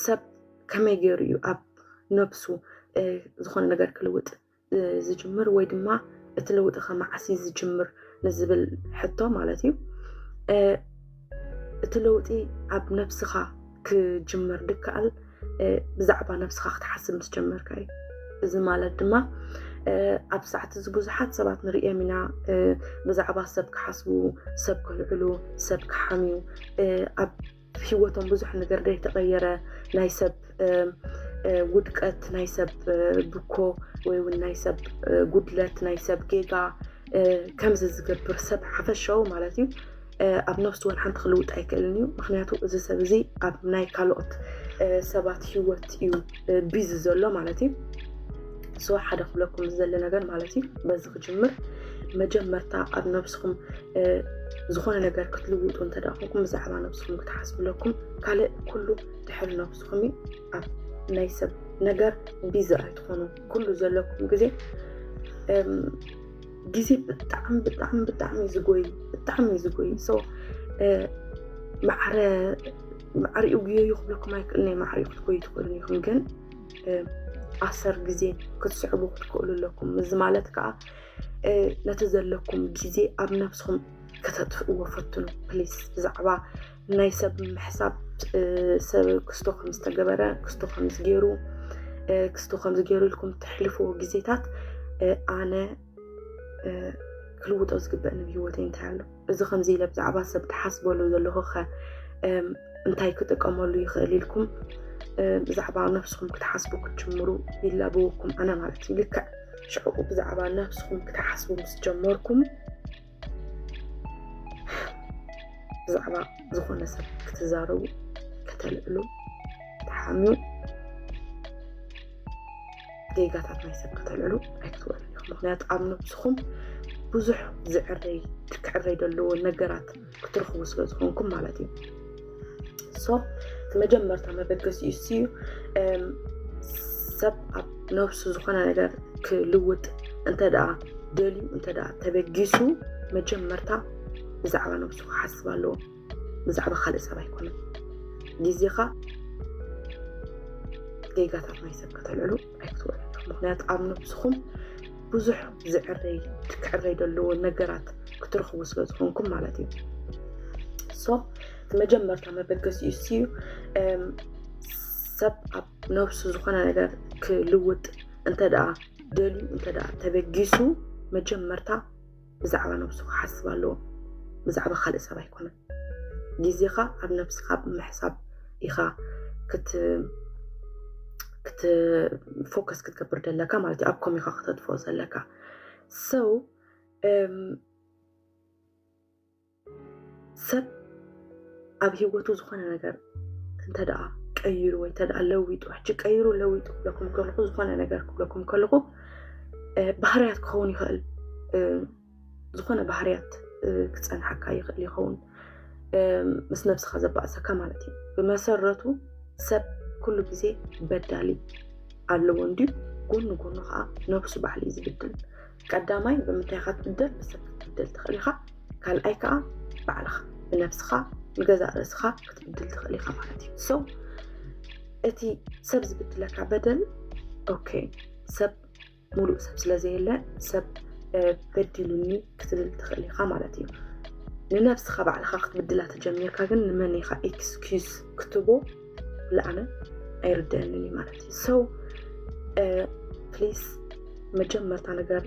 ሰብ ከመይ ገይሩ እዩ ኣብ ነብሱ ዝኾነ ነገር ክልውጥ ዝጅምር ወይ ድማ እቲ ለውጢ ከመዓስ እዩ ዝጅምር ንዝብል ሕቶ ማለት እዩ እቲ ለውጢ ኣብ ነብስኻ ክጅምር ድከኣል ብዛዕባ ነብስኻ ክትሓስብ ምስ ጀመርካ እዩ እዚ ማለት ድማ ኣብ ሰዓት እዚ ብዙሓት ሰባት ንርእዮም ኢና ብዛዕባ ሰብ ክሓስቡ ሰብ ክልዕሉ ሰብ ክሓምዩ ሂወቶም ብዙሕ ነገር ዘይተቐየረ ናይ ሰብ ውድቀት ናይ ሰብ ብኮ ወይ እውን ናይ ሰብ ጉድለት ናይ ሰብ ጌጋ ከምዚ ዝገብር ሰብ ሓፈሻዊ ማለት እዩ ኣብ ነፍሲ ወን ሓንቲ ክልውጥ ኣይክእልን እዩ ምክንያቱ እዚ ሰብ እዚ ኣብ ናይ ካልኦት ሰባት ሂወት እዩ ቢዚ ዘሎ ማለት እዩ ሶ ሓደ ክብለኩም ዝዘለ ነገር ማለት እዩ በዚ ክጅምር መጀመርታ ኣብ ነብስኹም ዝኾነ ነገር ክትልውጡ እንተደ ኮንኩም ብዛዕባ ነብስኹም ክትሓስብለኩም ካልእ ኩሉ ድሕሪ ነብስኹም እዩ ኣብ ናይ ሰብ ነገር ቢዚ ኣይትኾኑ ኩሉ ዘለኩም ግዜ ግዜ ብጣዕሚ ብጣዕሚ ብጣዕሚ እዩ ዝጎይ ብጣዕሚ እዩ ዝጎይ ሶ ማዕረ ማዕሪኡ ጉየዩ ክብለኩም ኣይክእልንየ ማዕሪኡ ክትጎዩ ትኽእሉ ኢኹም ግን ኣሰር ግዜ ክትስዕቡ ክትክእሉ ኣለኩም እዚ ማለት ከዓ ነቲ ዘለኩም ግዜ ኣብ ነብስኹም ከተጥፍእዎ ፈትኑ ፕሊስ ብዛዕባ ናይ ሰብ ምሕሳብ ሰብ ክስቶ ከም ዝተገበረ ክስቶ ከም ዝገይሩ ክስቶ ከም ዝገይሩ ኢልኩም እተሕልፍዎ ግዜታት ኣነ ክልውጦ ዝግበእ ንብሂወተይ እንታይ ኣሎ እዚ ከምዚ ኢለ ብዛዕባ ሰብ ተሓስበሉ ዘለኹ ኸ እንታይ ክጥቀመሉ ይኽእል ኢልኩም ብዛዕባ ነብስኹም ክትሓስቡ ክትጅምሩ ይላበወኩም ኣነ ማለት እዩ ልክዕ ሽዕኡ ብዛዕባ ነብስኹም ክትሓስቡ ምስ ጀመርኩም ብዛዕባ ዝኾነ ሰብ ክትዛረቡ ከተልዕሉ ተሓምዩ ጌጋታት ናይ ሰብ ከተልዕሉ ኣይክትበሉ ኢኹም ምክንያቱ ኣብ ነብስኹም ብዙሕ ዝዕረይ ክዕረይ ዘለዎ ነገራት ክትረኽቡ ስለ ዝኾንኩም ማለት እዩ ሶ እቲ መጀመርታ መበገሲ እሱ እዩ ሰብ ኣብ ነብሱ ዝኾነ ነገር ክልውጥ እንተ ደኣ ደልዩ እንተ ደኣ ተበጊሱ መጀመርታ ብዛዕባ ነብሱ ክሓስብ ኣለዎ ብዛዕባ ካልእ ሰብ ኣይኮነን ግዜኻ ጌጋታት ናይ ሰብ ከተልዕሉ ኣይትወልዱ ምክንያቱ ኣብ ነብስኹም ብዙሕ ዝዕረይ ክዕረይ ዘለዎ ነገራት ክትረኽቡ ስለ ዝኾንኩም ማለት እዩ ሶ መጀመርታ መበገሲ እሱ እዩ ሰብ ኣብ ነብሱ ዝኾነ ነገር ክልውጥ እንተ ደልዩ እንተ ተበጊሱ መጀመርታ ብዛዕባ ነብሱ ክሓስብ ኣለዎ ብዛዕባ ካልእ ሰብ ኣይኮነን ግዜኻ ኣብ ነብስኻ ብምሕሳብ ኢኻ ክት ፎከስ ክትገብር ደለካ ማለት እዩ ኣብ ኮሚኻ ክተጥፍኦ ዘለካ ሰው ሰብ ኣብ ሂወቱ ዝኾነ ነገር እንተደኣ ቀይሩ ወይ እንተደኣ ለዊጡ ሕጂ ቀይሩ ለዊጡ ክብለኩም ከለኹ ዝኾነ ነገር ክብለኩም ከለኹ ባህርያት ክኸውን ይኽእል ዝኾነ ባህርያት ክፀንሓካ ይኽእል ይኸውን ምስ ነብስኻ ዘባእሰካ ማለት እዩ ብመሰረቱ ሰብ ኩሉ ግዜ በዳሊ ኣለዎ እንድዩ ጎኑ ጎኑ ከዓ ነብሱ ባዕሉ እዩ ዝብድል ቀዳማይ ብምንታይ ኢኻ ትብደል ብሰብ ክትብደል ትኽእል ኢኻ ካልኣይ ከዓ ባዕልኻ ብነብስኻ ንገዛእ ርእስኻ ክትብድል ትኽእል ኢኻ ማለት እዩ ሶ እቲ ሰብ ዝብድለካ በደል ኦኬ ሰብ ሙሉእ ሰብ ስለዘየለ ሰብ በዲሉኒ ክትብል ትኽእል ኢኻ ማለት እዩ ንነብስኻ ባዕልኻ ክትብድላ ተጀሚርካ ግን ንመን ኢኻ ኤክስኪዝ ክትቦ ኩሉ ዓለም ኣይርድአንን እዩ ማለት እዩ ሰው ፕሊስ መጀመርታ ነገር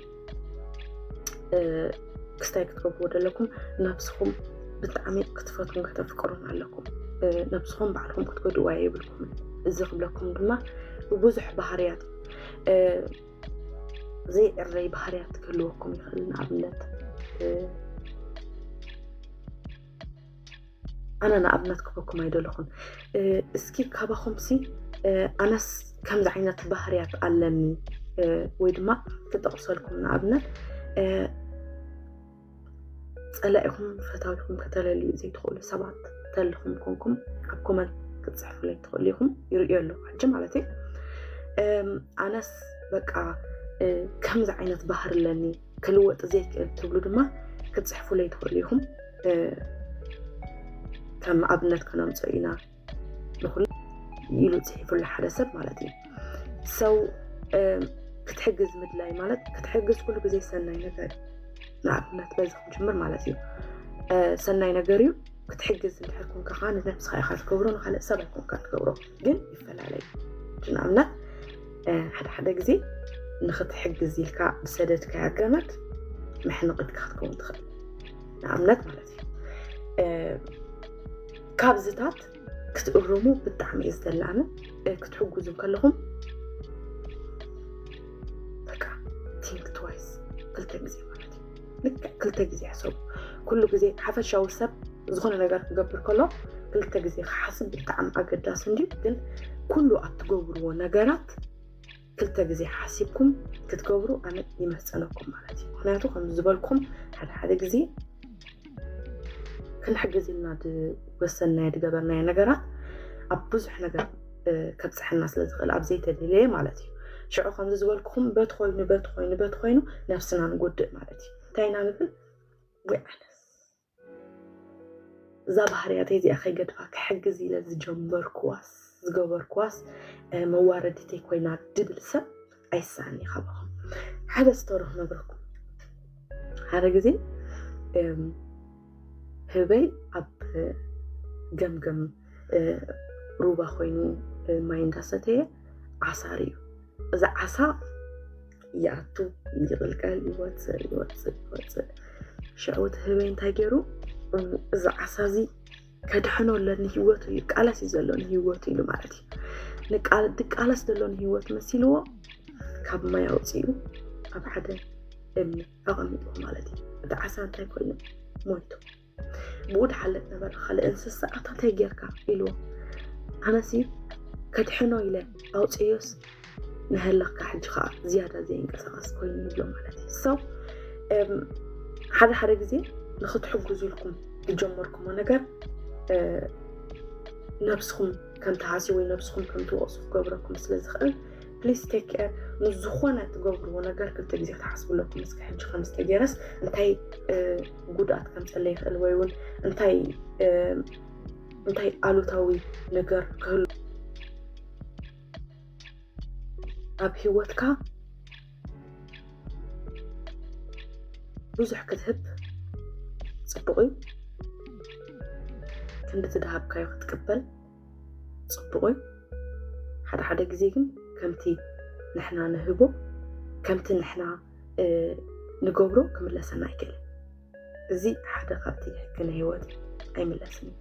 ክስታይ ክትገብርዎ ዘለኩም ነብስኹም ብጣዕሚ ክትፈትውን ከተፍቅሩን ኣለኩም ነብስኹም ባዕልኩም ክትጎድዋ የብልኩም እዚ ክብለኩም ድማ ብዙሕ ባህርያት ዘይዕረይ ባህርያት ክህልወኩም ይኽእል ንኣብነት ኣነ ንኣብነት ክበኩም ኣይደለኹን እስኪ ካባኹምሲ ኣነስ ከምዚ ዓይነት ባህርያት ኣለኒ ወይ ድማ ክጠቕሰልኩም ንኣብነት ፀላኢኹም ፈታዊኹም ከተለልዩ ዘይትኽእሉ ሰባት ተልኹም ኮንኩም ኣብ ኮመንት ክትፅሕፉለይ ትኽእሉ ኢኹም ይርእዮ ኣለኹ ሕጂ ማለት እዩ ኣነስ በቃ ከምዚ ዓይነት ባህር ኣለኒ ክልወጥ ዘይክእል ትብሉ ድማ ክትፅሕፉለይ ትኽእሉ ኢኹም ከም ኣብነት ከነምፅኦ ኢና ንኹሉ ኢሉ ፅሒፉሉ ሓደ ሰብ ማለት እዩ ሰው ክትሕግዝ ምድላይ ማለት ክትሕግዝ ኩሉ ግዜ ሰናይ ነገር ንኣብነት በዚ ክንጅምር ማለት እዩ ሰናይ ነገር እዩ ክትሕግዝ እንድሕር ኮንካ ከዓ ንነብስካ ኢካ ትገብሮ ንካልእ ሰብ ኣይኮንካ ትገብሮ ግን ይፈላለዩ ንኣብነት ሓደ ሓደ ግዜ ንክትሕግዝ ኢልካ ብሰደድካያ ገመድ መሕንቕት ክትከውን ትኽእል ንኣብነት ማለት እዩ ካብዝታት ክትእርሙ ብጣዕሚ እዩ ዝደላኒ ክትሕግዙ ከለኹም በቃ ቲንክ ትዋይስ ክልተ ግዜ ማለት እዩ ልክዕ ክልተ ግዜ ሕሰቡ። ኩሉ ግዜ ሓፈሻዊ ሰብ ዝኾነ ነገር ክገብር ከሎ ክልተ ግዜ ክሓስብ ብጣዕሚ ኣገዳሲ እንድዩ። ግን ኩሉ ኣትገብርዎ ነገራት ክልተ ግዜ ሓሲብኩም ክትገብሩ ኣነ ይመፀነኩም ማለት እዩ። ምክንያቱ ከምዚ ዝበልኩም ሓደ ሓደ ግዜ ክንሕግዝ ኢልና ዝወሰናዮ ዝገበርናዮ ነገራት ኣብ ብዙሕ ነገር ከብፀሐና ስለ ዝኽእል ኣብ ዘይተደለየ ማለት እዩ ሽዑ ከምዚ ዝበልኩኹም በቲ ኮይኑ በቲ ኮይኑ በቲ ኮይኑ ነፍስና ንጎድእ ማለት እዩ እንታይ ኢና ንብል ወይ ኣነስ እዛ ባህርያተይ እዚኣ ከይገድፋ ክሕግዝ ኢለ ዝጀመርኩዋስ ዝገበርኩዋስ መዋረዲተይ ኮይና ድብል ሰብ ኣይስኣኒ ካባኹም ሓደ ስቶሪ ክነግረኩም ሓደ ግዜ ህበይ ኣብ ገምገም ሩባ ኮይኑ ማይ እንዳሰተየ ዓሳር እዩ እዚ ዓሳ ይኣቱ ይቕልቀል ይወፅእ ይወፅእ ይወፅእ ሽዑ እቲ ህበይ እንታይ ገይሩ እዚ ዓሳ እዚ ከድሕኖ ኣለኒ ሂወቱ እዩ ቃለስ እዩ ዘሎ ንሂወቱ ኢሉ ማለት እዩ ድቃለስ ዘሎ ንሂወት መሲልዎ ካብ ማይ ኣውፅኡ ኣብ ሓደ እምኒ ኣቐሚጡ ማለት እዩ እቲ ዓሳ እንታይ ኮይኑ ሞይቱ ብኡ ድሓለፍ ነበረ ካልእ እንስሳ ኣታ እንታይ ጌርካ ኢልዎ ኣነሲ ከድሕኖ ኢለ ኣውፅዮስ ንሀለካ ሕጂ ከዓ ዝያዳ ዘይንቀሳቀስ ኮይኑ ይብሎ ማለት እዩ ሰው ሓደ ሓደ ግዜ ንክትሕግዙ ኢልኩም ዝጀመርኩሞ ነገር ነብስኩም ከምትሃሲ ወይ ነብስኩም ከምትወቅሱ ክገብረኩም ስለዝኽእል ፕሊስ ቴክ ኬር ንዝኾነ ትገብርዎ ነገር ክልተ ግዜ ክትሓስብለኩም እስከ ሕጂ ከምዝተገይረስ እንታይ ጉድኣት ከምፀለ ይኽእል ወይ እውን እንታይ እንታይ ኣሉታዊ ነገር ክህሉ ኣብ ሂወትካ ብዙሕ ክትህብ ፅቡቕ እዩ ክንዲ ትድሃብካዮ ክትቅበል ፅቡቕ እዩ ሓደ ሓደ ግዜ ግን ከምቲ ንሕና ንህቦ ከምቲ ንሕና ንገብሮ ክምለሰና ኣይክእልን እዚ ሓደ ካብቲ ሕጊ ናይ ሂወት ኣይምለስን እዩ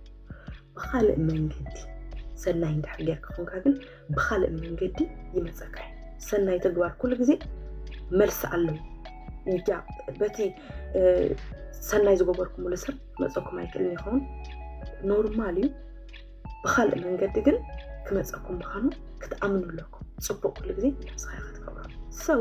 ብኻልእ መንገዲ ሰናይ እንድሕር ጌርካ ኮንካ ግን ብኻልእ መንገዲ ይመፀካ እዩ ሰናይ ተግባር ኩሉ ግዜ መልሲ ኣለዎ እያ በቲ ሰናይ ዝገበርኩምሉ ሰብ መፀኩም ኣይክእልን ይኸውን ኖርማል እዩ ብካልእ መንገዲ ግን ክመፀኩም ምዃኑ ክትኣምኑ ኣለኩም ፅቡቅ ኩሉ ግዜ ነብስካ ክትገብሮ ሰው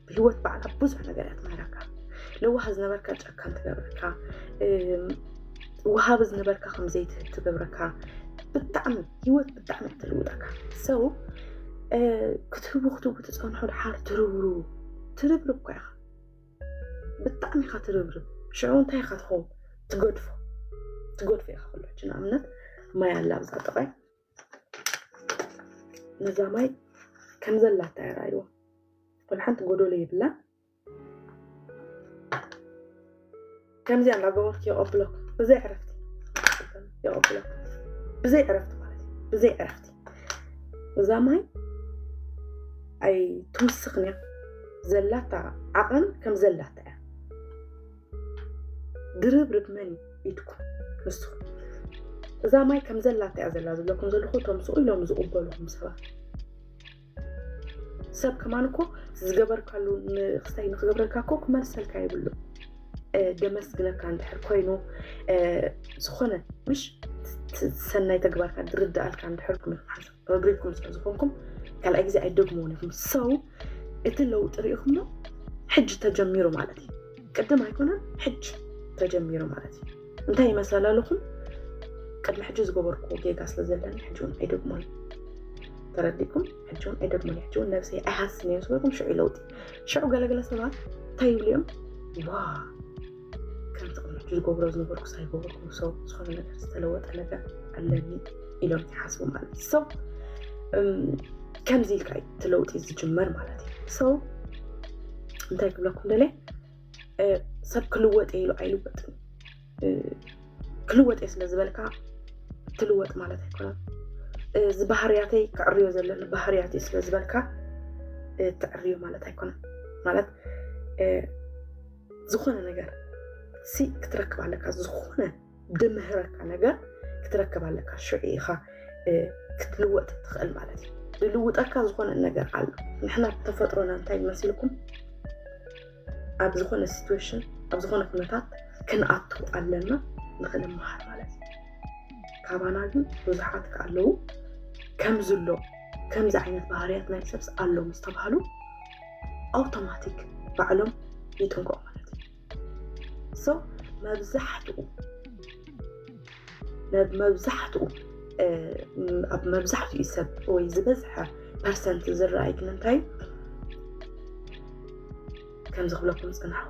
ብሂወት ባዕላ ብዙሕ ነገር እያ ትምህረካ ለዋህ ዝነበርካ ጨካን ትገብረካ ወሃቢ ዝነበርካ ከምዘይትህብ ትገብረካ ብጣዕሚ ሂወት ብጣዕሚ እያ ትልውጠካ ሰው ክትህቡ ክትህቡ ትፀንሑ ድሓር ትርብሩ ትርብርብ እኳ ኢኻ ብጣዕሚ ኢኻ ትርብርብ ሽዑ እንታይ ኢኻ ትኸውን ትገድፎ ትገድፎ ኢኻ ኩላችን ንኣብነት ማይ ኣላ ኣብዛ ጥቃይ ነዛ ማይ ከም ዘላታ የራይዎ ወላ ሓንቲ ጎዶሎ የብላ ከምዚኣ እንዳገበርኩ የቐብለኩ ብዘይ ዕረፍቲ የቐብለኩ ብዘይ ዕረፍቲ ማለት እዩ ብዘይ ዕረፍቲ እዛ ማይ ኣይትውስኽን እያ ዘላታ ዓቐን ከም ዘላታ እያ ድርብርብ መን ኢድኩም ንስኹም እዛ ማይ ከም ዘላታ እያ ዘላ ዝብለኩም ዘለኹ እቶም ስኡ ኢሎም ዝቕበልኹም ሰባት ሰብ ከማን እኮ ዝገበርካሉ ንክስታይ ንክገብረልካ እኮ ክመልሰልካ ይብሉ ደመስግነካ እንድሕር ኮይኑ ዝኾነ ምሽ ሰናይ ተግባርካ ዝርዳኣልካ እንድሕር ክምሓሰብ ረግሬትኩም ስለ ዝኾንኩም ካልኣይ ግዜ ኣይደግምዎን ኢኹም ሰው እቲ ለውጢ ሪኢኹሞ ሕጂ ተጀሚሩ ማለት እዩ ቅድም ኣይኮነን ሕጂ ተጀሚሩ ማለት እዩ እንታይ ይመስላል ኣለኹም ቅድሚ ሕጂ ዝገበርኩዎ ጌጋ ስለ ዘለኒ ሕጂ እውን ኣይደግሞን ተረዲኩም ሕጂ እውን ኣይደግሞን ሕጂ እውን ነብሰ ኣይሃስን እዮም ዝበልኩም ሽዑ ለውጢ ሽዑ ገለገለ ሰባት እንታይ ይብሉ እዮም ዋ ከምቲ ቅድሚ ሕጂ ዝገብሮ ዝነበርኩ ሳይገበርኩ ሰው ዝኾነ ነገር ዝተለወጠ ነገር ኣለኒ ኢሎም ይሓስቡ ማለት እዩ ሰው ከምዚ ኢልካ እዩ እቲ ለውጢ ዝጅመር ማለት እዩ ሰው እንታይ ክብለኩም ደለ ሰብ ክልወጥ ኢሉ ኣይልወጥን ክልወጥ እየ ስለ ዝበልካ ትልወጥ ማለት ኣይኮነን እዚ ባህርያተይ ክዕርዮ ዘለኒ ባህርያት ስለ ዝበልካ ትዕርዮ ማለት ኣይኮነን ማለት ዝኾነ ነገር ሲ ክትረክብ ኣለካ ዝኾነ ድምህረካ ነገር ክትረክብ ኣለካ ሽዑ ኢኻ ክትልወጥ ትኽእል ማለት እዩ ዝልውጠካ ዝኾነ ነገር ኣሎ ንሕና ተፈጥሮና እንታይ ይመስልኩም ኣብ ዝኾነ ሲትዌሽን ኣብ ዝኾነ ኩነታት ክንኣቱ ኣለና ንክንመሃር ማለት እዩ ካባና ግን ብዙሓት ከኣለዉ ከምዝሎ ከምዚ ዓይነት ባህርያት ናይ ሰብስ ኣሎ ምስ ተባሃሉ ኣውቶማቲክ ባዕሎም ይጥንቀቑ ማለት እዩ ሶ መብዛሕትኡ መብዛሕትኡ ኣብ መብዛሕትኡ ሰብ ወይ ዝበዝሐ ፐርሰንት ዝረኣይ ግን እንታይ ከምዚ ክብለኩም ዝፅናሕኹ